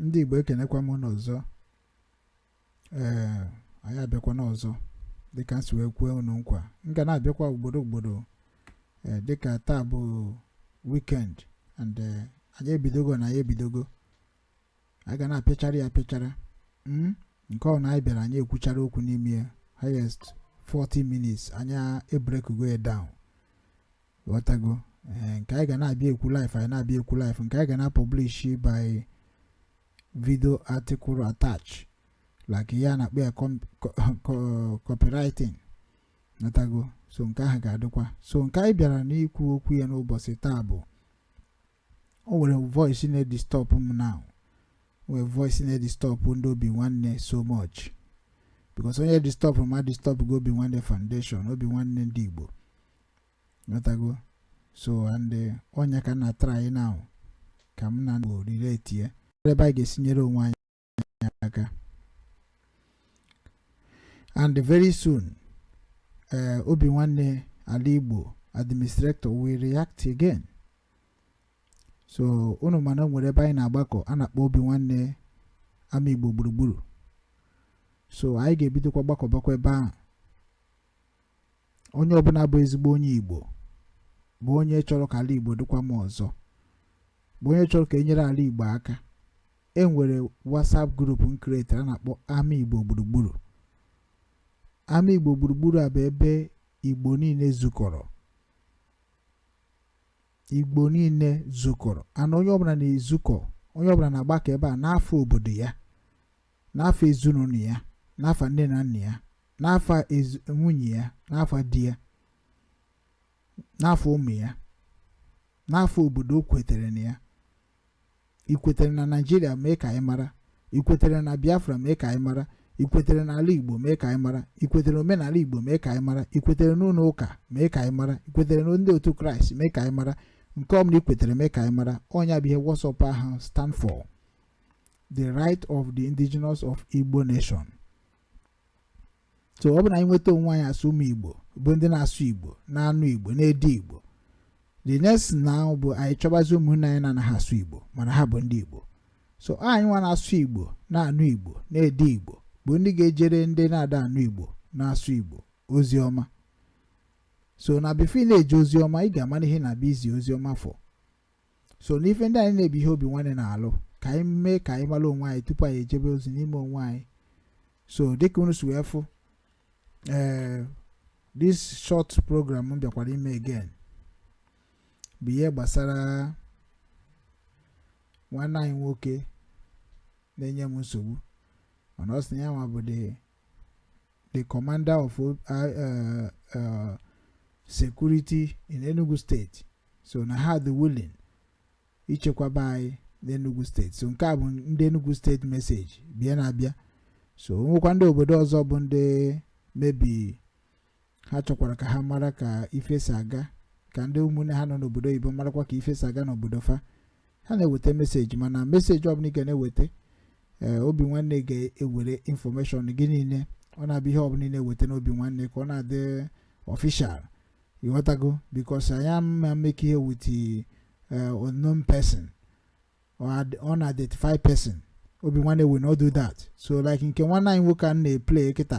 ndị Igbo ekenekwa m unu ọzọ ee anyị abịakwana ọzọ dịka m si wee kwe unu nkwa m ga na-abịakwa ugboro ugboro ee dịka taa bụ weekend and ee, anyị ebidogo na anyị ebidogo anyị ga na-apịachara ya apịachara Mm, nke ọbụla anyị bịara anyị ekwuchara okwu n'ime ya highest 40 minutes anyị ebreakgo ya down ghọtago eh, nke anyị ga na-abịa ekwu live anyị na-abịa ekwu live nke anyị ga na-publish by video article attach like ya a na-akpọ ya copywriting ghọtago so nke ahụ ga-adịkwa so nke anyị bịara n'ikwu okwu ya n'ụbọchị taa bụ o nwere voice na-edisturb m now o nwere voice na-edisturb ndị obi nwanne so much because onye disturbrụ m edisturbgo obi nwanne foundation obi nwanne ndị Igbo ghọtago so and eh, ọ ya ka m na-try now ka m na-relate ya ebe anyị ga-esi nyere onwe anyị anyị aka and very soon eh, obi nwanne ala igbo administrator will react again so unu ma na o nwere ebe anyị na-agbakọ a na-akpọ obi nwanne ama igbo gburugburu so anyị ga-ebidokwa gbakọbakwa ebe ahụ onye ọbụla bụ ezigbo onye igbo bụ onye chọrọ ka ala igbo dịkwa mma ọzọ bụ onye chọrọ ka e nyere ala igbo aka e nwere WhatsApp group m create a na-akpọ Ama Igbo Gburugburu Ama Igbo Gburugburu a bụ ebe Igbo niile zukọrọ Igbo niile zukọrọ and onye ọbụla na-ezukọ onye ọbụla na-agbakọ ebe a n'afa obodo ya n'afa ezinụlọ ya n'afa nne na nna ya n'afa nwunye ya n'afa di ya n'afa ụmụ ya n'afa obodo o kwetere na ya i kwetere na naijiria mee ka anyị mara i kwetere na biafra mee ka anyị mara i kwetere na ala igbo mee ka anyị mara i kwetere n'omenala igbo mee ka anyị mara i kwetere n'ụlọ ụka mee ka anyị mara i kwetere na ndị otu kraịst mee ka anyị mara nke ọbụla i kwetere mee ka anyị mara ọ ya bụ ihe WhatsApp ahụ stand for the right of the indigenous of igbo nation so ọ bụ na anyị nweta onwe anyị as ụmụ igbo bụ ndị na-asụ igbo na-anụ igbo na-ede igbo the next now bụ anyị chọbazi ụmụnne anyị na-anaghị asụ igbo mana ha bụ ndị igbo so anyị nwa na-asụ igbo na-anụ igbo na-ede igbo bụ ndị ga-ejere ndị na-ada anụ igbo na-asụ igbo ozi ọma so na before i na-eje ozi ọma ị ga-amara ihe ị na-abịa izi ozi ọma for so n'ife ndị anyị na-ebi ihe Obinwanne na-alụ ka anyị mee ka anyị mara onwe anyị tupu anyị ejebe ozi n'ime onwe anyị so dịka unu si wee fụ ee eh, this short program m bịakwara ime again bụ ihe gbasara nwanne anyị nwoke na-enye m nsogbu mana ọ sị ya nwa bụ the the commander of uh, uh, uh, security in Enugu State so na ha dị willing ichekwaba anyị n'Enugu State so nke a bụ ndị Enugu State message bịa na-abịa so nwekwa ndị obodo ọzọ bụ ndị maybe ha chọkwara ka ha mara ka ife si aga ka ndị ụmụnne ha nọ n'obodo oyibo marakwa ka ife si aga n'obodo fa ha na-eweta message mana message ọbụla ị ga na-eweta eh, Obinwanne ga-ewere information gị niile ọ na-abụ ihe ọbụla ị na-eweta n'Obinwanne ka ọ na-adị official ịghọtago because anyị ama mekọ ihe with eh, unknown person or unidentified person Obinwanne will not do that so like nke nwanne anyị nwoke a na-eplay kịta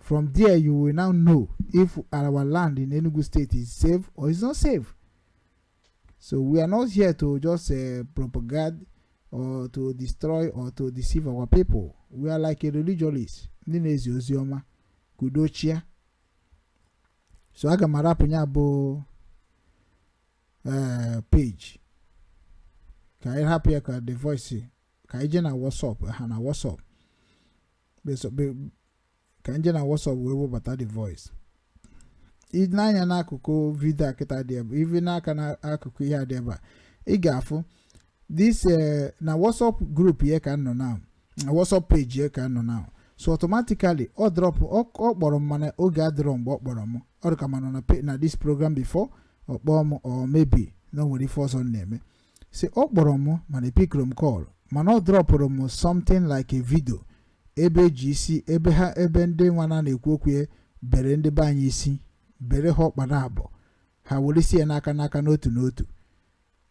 from there you will now know if our land in Enugu State is safe or is not safe so we are not here to just uh, propagate or to destroy or to deceive our people we are like a religious ndị na-ezi ozi ọma ka udo chịa so aga m arapụ ya bụ eh, page ka anyị hapụ ya ka the voice ka anyị jee na WhatsApp ha na WhatsApp ka m je na WhatsApp wee webata the voice i nee anya n'akụkụ video a kịta dị ebe even n'aka n'akụkụ ihe a dị ebe a ị ga-afụ this eh, na WhatsApp group ya ka m nọ now WhatsApp page ya ka m nọ now so automatically ọ drop ọ kpọrọ m mana oge adịrọ mgbe ọ kpọrọ m ọ dị ka m nọ na this program before ọ kpọọ m or maybe na o nwere ife ọzọ na-eme so ọ kpọrọ m mana epikirọ m call mana ọ drọpụrụ m something like a video ebe e ji isi ebe ha ebe ndị nwa a na-ekwu okwu ya bere ndị be anyị isi bere ha ọkpa na abụọ ha were isi ya n'aka n'aka n'otu n'otu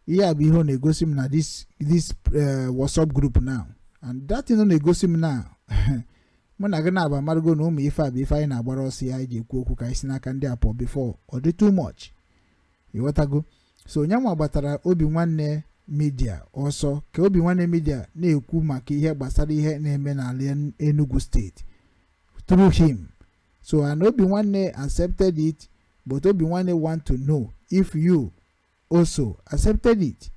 ihe a bụ ihe ọ na-egosi m na this this eh, WhatsApp group now and that thing ọ na-egosi m now mụ na gị naabọ amarago na ụmụ ife a bụ ife anyị na-agbara ọsọ ya anyị ji ekwu okwu ka anyị si n'aka ndị a pụọ before ọ dị too much ịghọtago so nya nwa gbatara Obinwanne media ọsọ ka Obinwanne media na-ekwu maka ihe gbasara ihe na-eme n'ala Enugu State through him so and Obinwanne accepted it but Obinwanne want to know if you also accepted it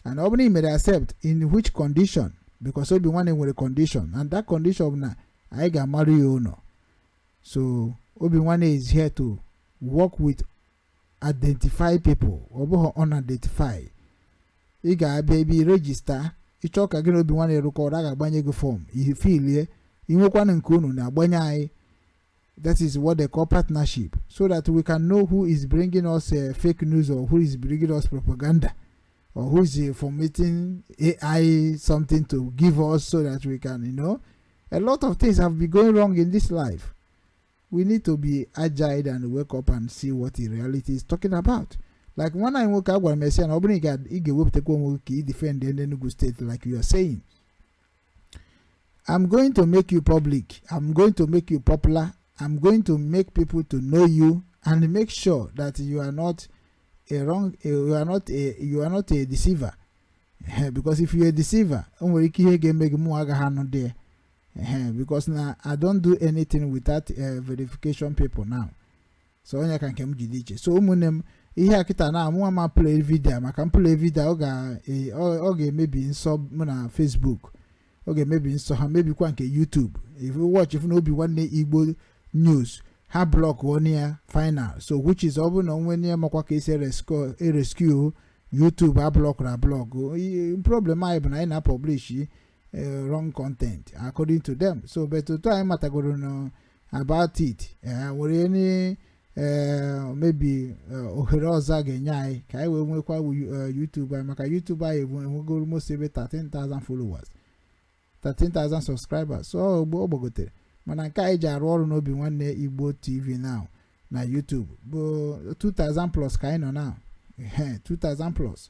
and ọ bụrụ na i mere accept in which condition because Obinwanne nwere condition and that condition bụ na anyị ga-amarụ ya ụlọ so Obinwanne is here to work with identify people ọ bụghị unidentified ị ga-abịa ebe ị register ị chọọ ka gị na obi nwanne rụkọ ọrụ a ga-agbanye gị form i filie inwekwana nke unu na-agbanye anyị that is what they call partnership so that we can know who is bringing us uh, fake news or who is bringing us propaganda or who is uh, formatting AI something to give us so that we can you know a lot of things have been going wrong in this life we need to be agile and wake up and see what the reality is talking about like nwanne anyị nwoke a gwara m esi ya na ọ bụrụ na ị ga- ị ga-ewepụtakwa onwe gị ka ị defend ndị Enugu state like you are saying I'm going to make you public. I'm going to make you popular. I'm going to make people to know you and make sure that you are not a wrong a, you are not a you are not a deceiver. Eh, because if you're a deceiver, o nwere ike ihe ga-eme gị mụ agaghị anụdị ya. ehe because na i don't do anything without eh, verification paper now so onye ka nke m jide iche so ụmụnne m ihe a kịta na mụwa ama play video maka m play video ọ ga- eh, ọ ọ ga-emebi nsọ mụ na facebook ọ ga-emebi nsọ ha mebikwa nke youtube if you watch ị fụ na obi nwanne igbo news ha blọk onye ya final so which is ọ bụrụ na o nwee onye makwa ka esi eresco- erescue youtube a blọkụrụ ablọkụ I- problem anyị bụ na anyị na-publish eh, wrong content according to them so but otu anyị matagoro na about it e nwere any eh, maybe eh, ohere ọzọ a ga-enye anyị ka anyị wee nwekwa wu- eh, YouTube anyị maka YouTube anyị enwe- enwego almost ebe 13,000 followers 13,000 subscribers so ọ gbo- ọ gbagotere mana nke anyị ji arụ ọrụ n'obi nwanne Igbo TV now na YouTube bụ 2000 plus ka anyị nọ now Ehe, 2000 plus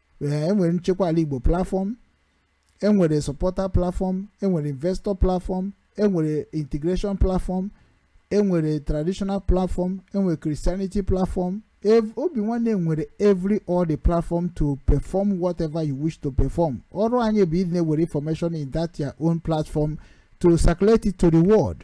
ee enwere nchekwa ala igbo platform enwere supporter platform enwere investor platform enwere integration platform enwere traditional platform enwere christianity platform Ev- obi nwanne nwere every all the platform to perform whatever you wish to perform ọrụ anyị bụ ịdị na-ewere information in that your own platform to circulate it to the world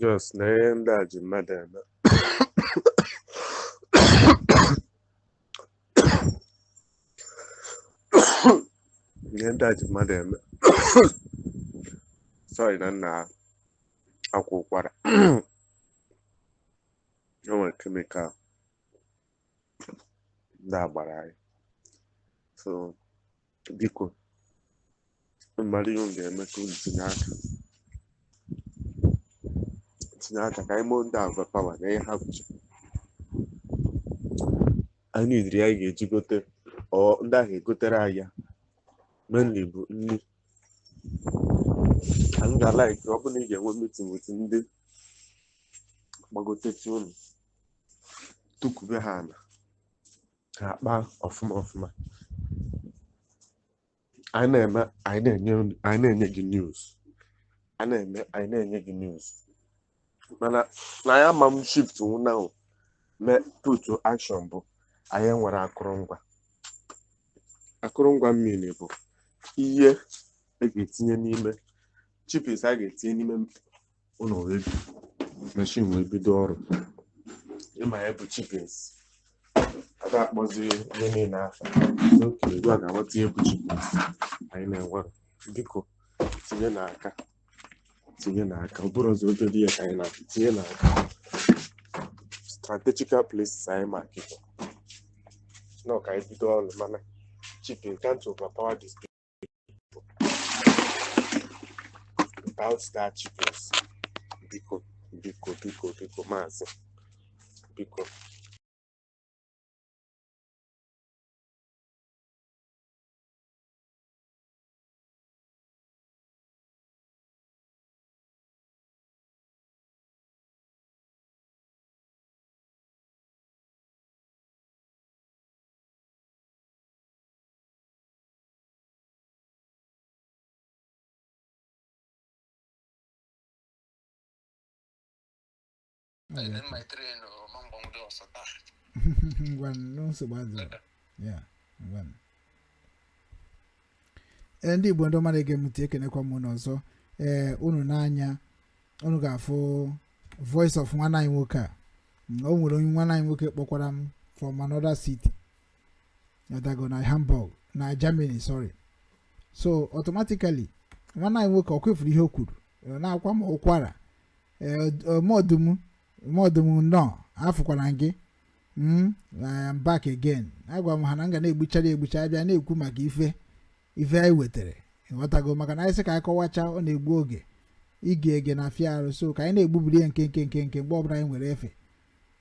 Just na ihe ndị a ji mmadụ eme ihe ndị a ji mmadụ eme sorry na m na-akwa ụkwara o nwere chemical ndị a gbara anyị so biko mara ihe unu ga-eme ka unu tinye aka tinye aka ka anyị moo ndị agwa pawa na ihe ha bụcha anyị nidiri anyị ga-eji gote or ndị ahụ egotere anyị ya mainly bụ nri anyị ga-alaiki ọ bụrụ na ị ga-enwe meeting with ndị gbagotechi unu tukube ha ala ha akpa ọfụma ọfụma anyị na-eme anyị na-enye unu- anyị na-enye gị news a na-eme anyị na-enye gị news mana anyị ama shift now now mee put to action bụ anyị nwere akụrụngwa akụrụngwa mmiri bụ ihe a ga-etinye n'ime chipins a ga-etinye n'ime ụlọ wee bi meshin wee bido ọrụ ịma ihe bụ chipins a ga-akpọzi ihe niile afa n'oke ugbu a ga-aghọta ihe bụ chipins anyị na-enwere biko tinyenụ aka tinyenụ aka ọ bụrụ ọzọ obere ihe ka anyị na-akụ tinye n'aka strategical places anyị ma kịta nọ ka anyị bido ọrụ mana chipin can't overpower this without that juice biko biko biko biko maazị biko ngwa nsogbu adịghị ya ngwa ee ndị igbo ndị ọma na-ege m ntị ekenekwa m unu ọzọ ee unu nee anya unu ga-afụ voice of nwanne anyị nwoke a Mm, o nwere onye nwanne anyị nwoke kpọkwara m from another city ghọtago na hamburg na germany sorry so automatically nwanne anyị nwoke o kwufuru ihe o kwuru ọ na-akwa m ụkwara mọdụm mọdụm nnọọ afụkwara gị mm, I am back again agwa m ha na m ga na-egbuchara egbucha abịa na-ekwu maka ife ife anyị wetara ịghọtago maka na anyị sị ka anyị kọwacha ọ na-egbu oge ige ege na-afịa arụ so ka anyị na-egbubiri ya nkenke nkenke mgbe ọbụla anyị nwere efe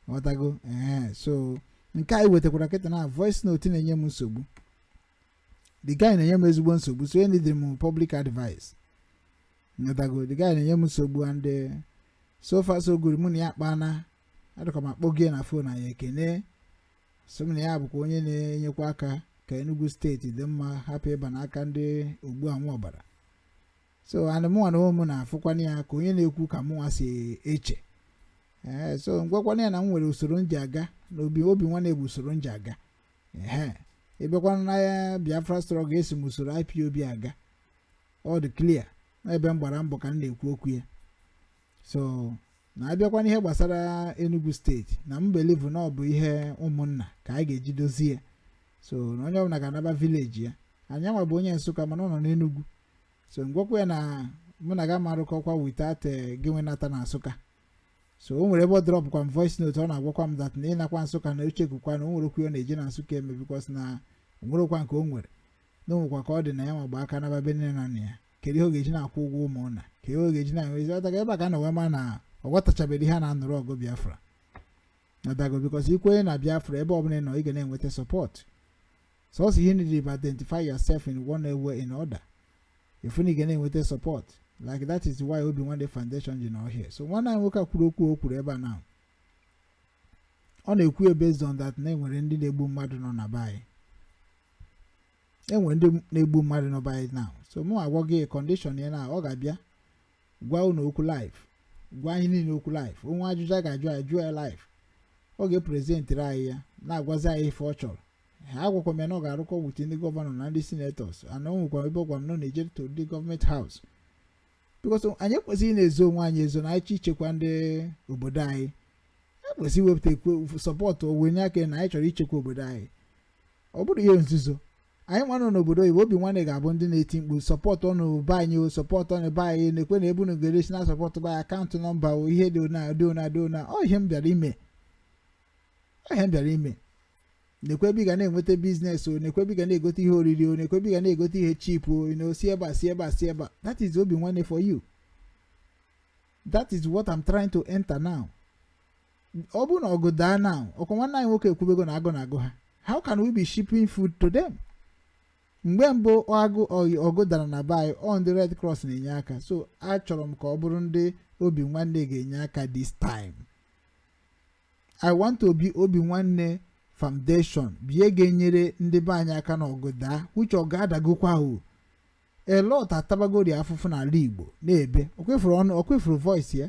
ghọtago ee so nke anyị wetakwara kịta na voice note na-enye m nsogbu the guy na-enye m ezigbo nsogbu so enidiri m public advice ghọtago the guy na-enye m nsogbu and eh, so far so good mụ na ya kpana adịka m akpọ gị na fon anyị ekene so m na ya bụkwa onye na-enyekwa aka ka Enugu steeti dị mma hapụ ịba n'aka ndị ogbu anwụ ọbara so and mụnwa na onwe m na-afụkwana ya ka onye na-ekwu ka mụnwa si eche ee so ngwakwana ya na m nwere usoro m ji aga na obi nwanne bụ usoro m ji aga ee ịbịakwana na ya Biafra struggle esi m usoro IPOB aga ọ dị clear n'ebe m gbara mbọ ka m na-ekwu okwu ya so na abịakwa n'ihe gbasara Enugu state na m believe na ọ bụ ihe ụmụnna ka anyị ga-eji dozie ya so na onye ọbụla ga-anaba village ya anyị nwa bụ onye Nsụka mana ọ nọ n'Enugu so ngwakwa ya na mụ na gị ama arụkọkwa without eh, gịnwa nata na nsụka so o nwere ebe ọ dropụkwa m voice note ọ na-agwakwa m that na ịnakwa nsụka na uche gụkwa na o nwere okwu ọ na-eje na nsụka eme because na o nwerekwa nke o nwere na o nwekwa ka ọ dị na ya ma gba aka naba be nne na nna ya kedu ihe ọ ga-eji na-akwụ ụgwọ ụmụ ụna ka ihe ọ ga-eji na-enwezi ọtaga ebe a ka a na-enwe ma na ọ ghọtachabeghị ihe a na-anụrụ ọgụ biafra ọdago because i kwenye na biafra ebe ọbụla ị nọ ị ga na-enweta support sọsọ ihe niile bụ identify yourself in one way in order ị fụ na ị ga na-enweta support like that is why obi nwanne foundation ji nọ here so nwanne anyị nwoke a kwuru okwu o kwuru ebe a na ọ na-ekwu ya based on that na enwere ndị na-egbu mmadụ nọ na be anyị enwere ndị na-egbu mmadụ nọ be anyị now so mụ agwa gị condition ya na ọ ga-abịa gwa unu okwu live gwa anyị niile okwu live o nwee ajụjụ a ga-ajụ a jụọ ya live ọ ga-epresentịrị anyị ya na-agwazi anyị ife ọ chọrọ ha agwakwa m ya na ọ ga-arụkọ with ndị governor na ndị senators and o nwekwa ebe ọ gwara m na ọ na-eje to ndị government house because anyị ekwesịghị na-ezo onwe anyị ezo na anyị ichekwa ndị obodo anyị ekwesị iwepụta ekwe support owenye aka na anyị chọrọ ichekwa obodo anyị ọ bụrụ ihe nzuzo anyị nwa nọ n'obodo oyibo obi nwanne ga-abụ ndị na-eti mkpu supportụnụ be anyị o supportụnụ be anyị nekwe ebe unu ga-esi na-asupport be anyị account number o ihe dị ona dị ona dị ona ọ ihe m bịara ime ihe m bịara ime nekwe ebe ị ga na-enweta business o nekwe ebe ị ga na-egote ihe oriri o nekwe ebe ị ga na-egote ihe cheap o na o si ebe a si ebe a si ebe a that is obi nwanne for you that is what I'm trying to enter now ọ bụrụ na ọgụ daa now ọkwa nwanne anyị nwoke ekwubego na agụụ na-agụ ha how can we be shipping food to them mgbe mbụ agụ ọgụ dara na be anyị ọ ndị red cross na-enye aka so achọrọ m ka ọ bụrụ ndị obi nwanne ga-enye aka this time I want to be obi nwanne foundation bụ ya ga-enyere ndị be anyị aka na ọgụ daa which ọ ga-adagokwa o a lot atabagori afụfụ n'ala igbo n'ebe okwefuru ọnụ okwefuru voice ya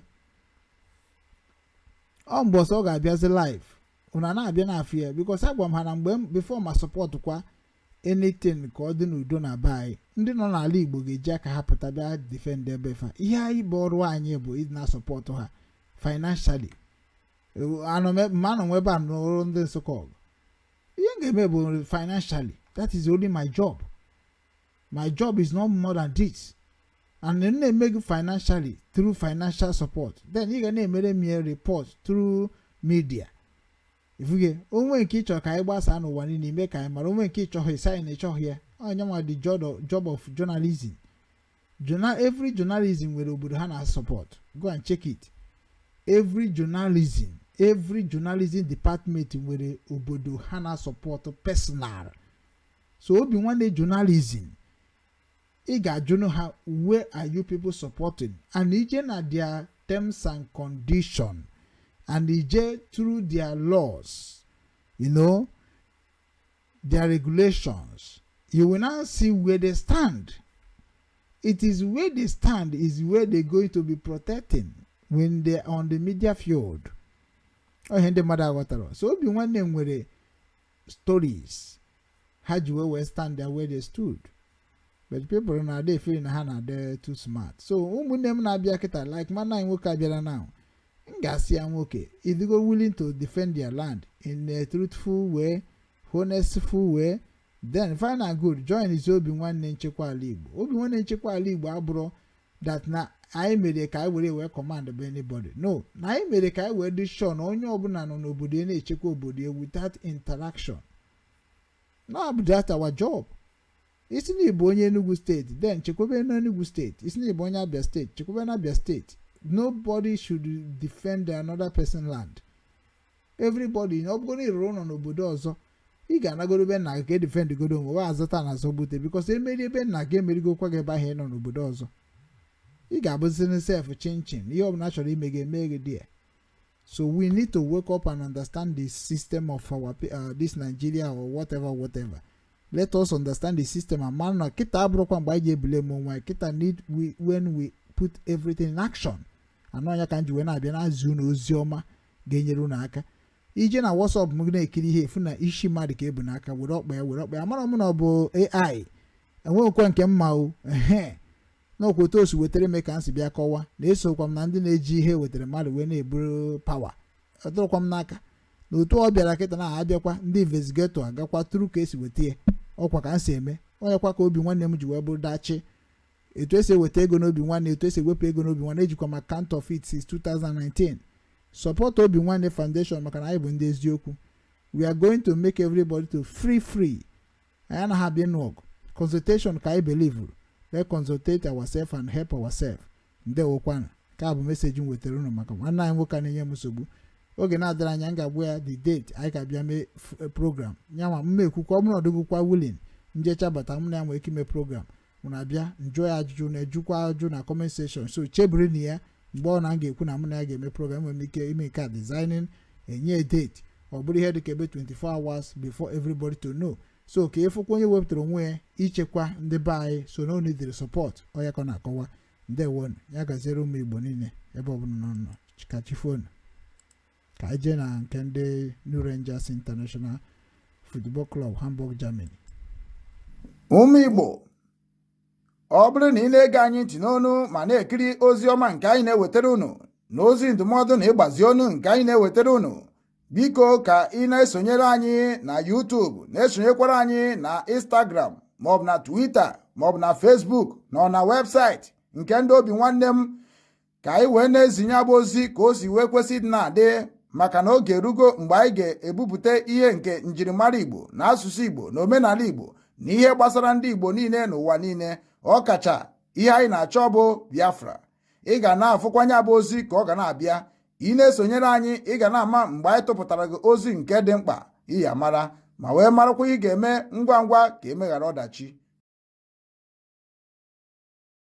ọ mbọsị ọ ga-abịazi live unu na-abịa na-afụ ya because agwa m ha na mgbe before m asupport kwa anything ka ọ dị n'udo na be anyị ndị nọ n'ala igbo ga-eji aka ha pụta bịa defend ebe fa ihe anyị bụ ọrụ anyị bụ ịdị na-asupport ha financially ma anọ nwe ebe a n'ọrụ ndị nsụkọ ọgụ ihe m ga-eme bụ financially that is only my job my job is not more than this and m na-eme gị financially through financial support then ị ga na-emere m ya report through media ị fugo o nwee nke ị chọrọ ka anyị gbasaa n'ụwa niile i mee ka anyị mara o nwee nke ị chọghị ị sị anyị na ị chọghị ya ọ ya nwa the job of journalism every journalism nwere obodo ha na support go and check it every journalism every journalism department nwere obodo ha na support personal so Obinwannem journalism ị ga-ajụnụ ha where are you people supporting and i jee na their terms and condition and i jee through their laws you know their regulations you will now see where they stand it is where they stand is where they going to be protecting when they are on the media field ọ ihe ndị mmadụ aghọtarọ so Obinwannem nwere stories ha ji wee wee stand there where they stood but people na-adị efeel na ha na-adị too smart so ụmụnne m na-abịa kịta like mana anyị nwoke abịara now m ga-asị ya nwoke ị dịgo willing to defend their land in a truthful way honestful way then fine and good joinzie Obinwannem nchekwa ala igbo Obinwannem nchekwa ala igbo abụrọ that na anyị mere ka anyị were wee commandbe anybody no na anyị mere ka anyị wee dị sure na onye ọbụla nọ n'obodo ya na-echekwa obodo ya without interaction na bụ that our job ị sị na ị bụ onye Enugu steeti then chekwebe na Enugu steeti ị sị na ị bụ onye Abia steeti chekwebe na Abia steeti nobody should defend another person land everybody ọ bụgo na ị rụrụ ụlọ n'obodo ọzọ ị ga-anagoro be nna gị ka e defendgodo onwe wa a zọta ana a zọba ute because e merie be nna gị e merigokwa gị ebe ahụ ị nọ n'obodo ọzọ ị ga-abụziri sef chinchin ihe ọbụla chọrọ ime gị emee gị there so we need to wake up and understand the system of our uh, this Nigeria or whatever whatever let us understand the system and mara na kịta abụrọkwa mgbe anyị ji ebule m onwe anyị kịta need we when we put everything in action and ọ ya ka m ji wee na-abịa na-ezi unu ozi ọma ga-enyere unu aka i jee na WhatsApp m na-ekiri ihe ị fụ na isi mmadụ ka e bu n'aka were ọkpa ya were ọkpa ya amara m na ọ bụ AI enweghịkwa nke m ma o ehe n'ọkwa otu o si wetara m ka m si bịa kọwa na esokwa m na ndị na-eji ihe wetara mmadụ wee na-eburu power ọ dịrọkwa m n'aka na otu ọ bịara kịta na abịakwa ndị investigator agakwa tụrụ ka e si weta ya ọkwa ka m si eme ọ yakwa ka Obinwannem ji wee bụrụ dachi etu esi eweta ego n'Obinwannem etu esi ewepụ ego n'Obinwannem ejikwa m account of it since 2019 support Obinwannem Foundation maka na anyị bụ ndị eziokwu we are going to make everybody to feel free anyị anaghị abịa ịnụ ọgụ consultation ka anyị belivuru let's consultate ourselves and help ourselves ndewokwanụ nke a bụ message m wetara unu maka nwanne anyị nwoke a na-enye m nsogbu oge na-adịghị anya m ga-agwa ya the date anyị ga-abịa mee f- eh, program ya ma mma ekwukwa ọ bụrụ na ọ dịghịkwa willing m jecha bata mụ na ya nwere ike ime program mụ na-abịa m jụọ ya ajụjụ unu ajụkwa ajụjụ na comment section so chebirinụ ya mgbe ọbụla m ga-ekwu na mụ na ya ga-eme program nwere m ike ime nke a designing enye date ọ bụrụ ihe dịka ebe 24 hours before everybody to know so ka ịfụkwa onye wepụtara onwe ya ichekwa ndị be anyị so na o needịrị support ọ ya ka ọ na-akọwa ndewonu ya gaziere ụmụ igbo niile ebe ọbụla unu nọ ka chi fonụ ka anyị jee na nke ndị New Rangers International Football Club Hamburg Germany ụmụ Igbo ọ bụrụ na ị na-ege anyị ntị n'onu ma na-ekiri ozi ọma nke anyị na-ewetara unu na ozi ndụmọdụ na ịgbazi ọnụ nke anyị na-ewetara unu biko ka ị na-esonyere anyị na YouTube na-esonyekwara anyị na Instagram maọbụ na Twitter maọbụ na Facebook na na webụsaịtị nke ndị Obinwannem ka anyị wee na-ezinye abụ ozi ka o si wee kwesị ịdị na-adị maka na oge erugo mgbe anyị ga-ebupụta ihe nke njirimara Igbo na asụsụ Igbo na omenala Igbo na ihe gbasara ndị Igbo niile n'ụwa niile ọkacha ihe anyị na-achọ bụ Biafra ị ga na-afụkwanye abụ ozi ka ọ ga na-abịa ị na-esonyere anyị ị ga na-ama mgbe anyị tụpụtara gị ozi nke dị mkpa ị ya-amara ma wee marakwa ihe ị ga-eme ngwa ngwa ka e meghara ọdachi